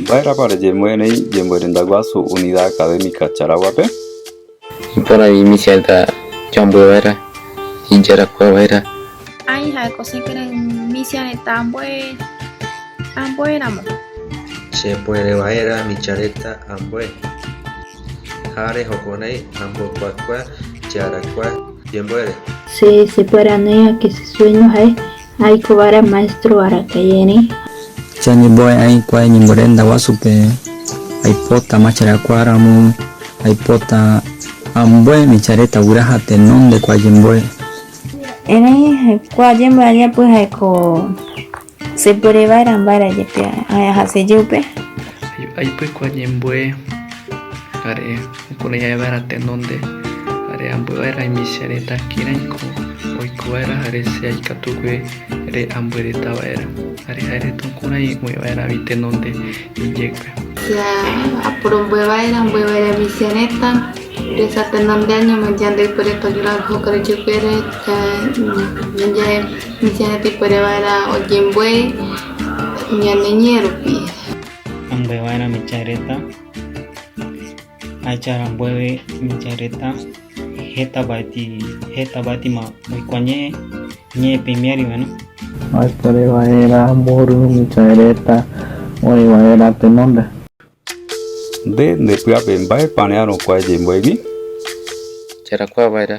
Mba'érapa reñemoĩrei Ñemborendaguasu Unidad Académica Charaguape? Iporã iñichiãita jambova'erã, ijarakuava'erã. Ai ha'éko che kere misia retã ambue, ambue ramo. Che puere va'erã micha retã ambue. Ha rejokonai ambokuakua che arakua jembuére. Che che puere anéi ake che sueño ha'e. Aiko va'erã maestro araka'e erẽ. Che añembo'e'ã hikuái ñemorenda guasupe, aipota macherakuaa ramo, aipota ambue michareta guyra ha tenonde ko ayembo'e. Erẽ ko ayembo'e ajeapy jaeko sepuere va'erã mba'ére ajepe aja se jepe. Aipy ko ayembo'e are'e. Oikove jave va'erã tenonde, jare ambué va'erã imichia retã kĩrai ko oiko va'erã jare che aikatugue re'ambué retã va'erã, jare ha'e retã kurai oĩ va'erã vi tenonde ijékue. Che aporombo'e va'erã ambué va'erã imichia retã resa tenonde añome yande ipuere tojura ojoka rejeguére, ñande imichia retã ipuere va'erã oyembo'e ñane ñe'ẽ rupi. Ambué va'erã imichia retã. Ahecha rambueve Michãi retã heta vaetĩ, heta vaetima oikua ñe'ẽ, ñe'ẽ pe imiari va'erã. Oikore vaerã mborýi Michãi retã oĩ vaerã tenonde. Nde nde py'ape, mba'e parẽ'arõkuaa ejeimbo'egui? Jarakuaa vaerã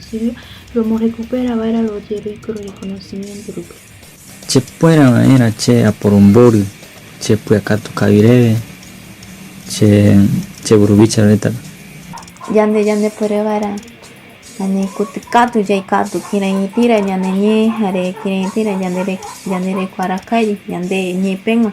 Exilio, romorrekupera va'erã rojeroiko rorekonosimiénto rupi. Chekuera va'erã che aporombory che pyakatu kavi reve che che mburuvicha retãpe. Yande ñandepuere va'erã ñane kuty katu jaikatu kireitĩra ñane ñe jare kireitĩra ñande reko araka'e ñande ñe pegua.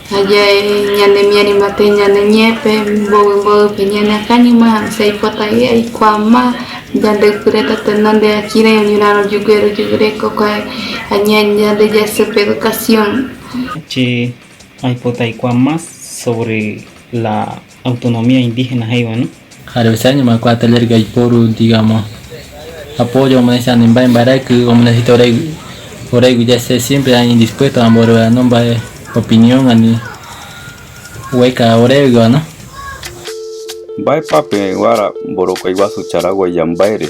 Ha ja'e ñanemiarimbaite ñane ñe'ẽpe mboy mboype ñaneakãñoma jaipotaive aikuaama yande ypyréta tenda ndéva kirai oñorã rojugue rojeguereko kuae añae yande jasy pe educación. Che aipota aikuaa más sobre la Autonomía indígena he'íva ni. Ha rehechái ñamoakua taller gaiporu digamo apoyo omonecha ne mba'e mbarayky omonecesita orei oreigui ya che siempre ai indispuesto amboryo'ano mba'e opinión ani ueka oreguiva no. Mba'épa peẽ guára mborokái guasu Charaguaia mba'ére?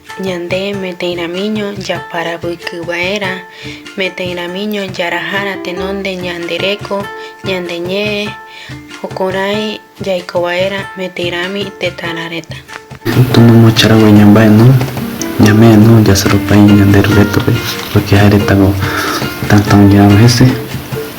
Ñande metẽiramiño japaravykyva'erã, metẽiramiño jaraha ratenonde ñande reko, ñande ñe'ẽ, jokorãi jaikova'erã metĩrami tetãrã retã. Tomomocharague ñamba'eno, ñame'ẽno jasaropai ñande Rurétope, pórke ha'e retãgua tãtãoje'arõ hese.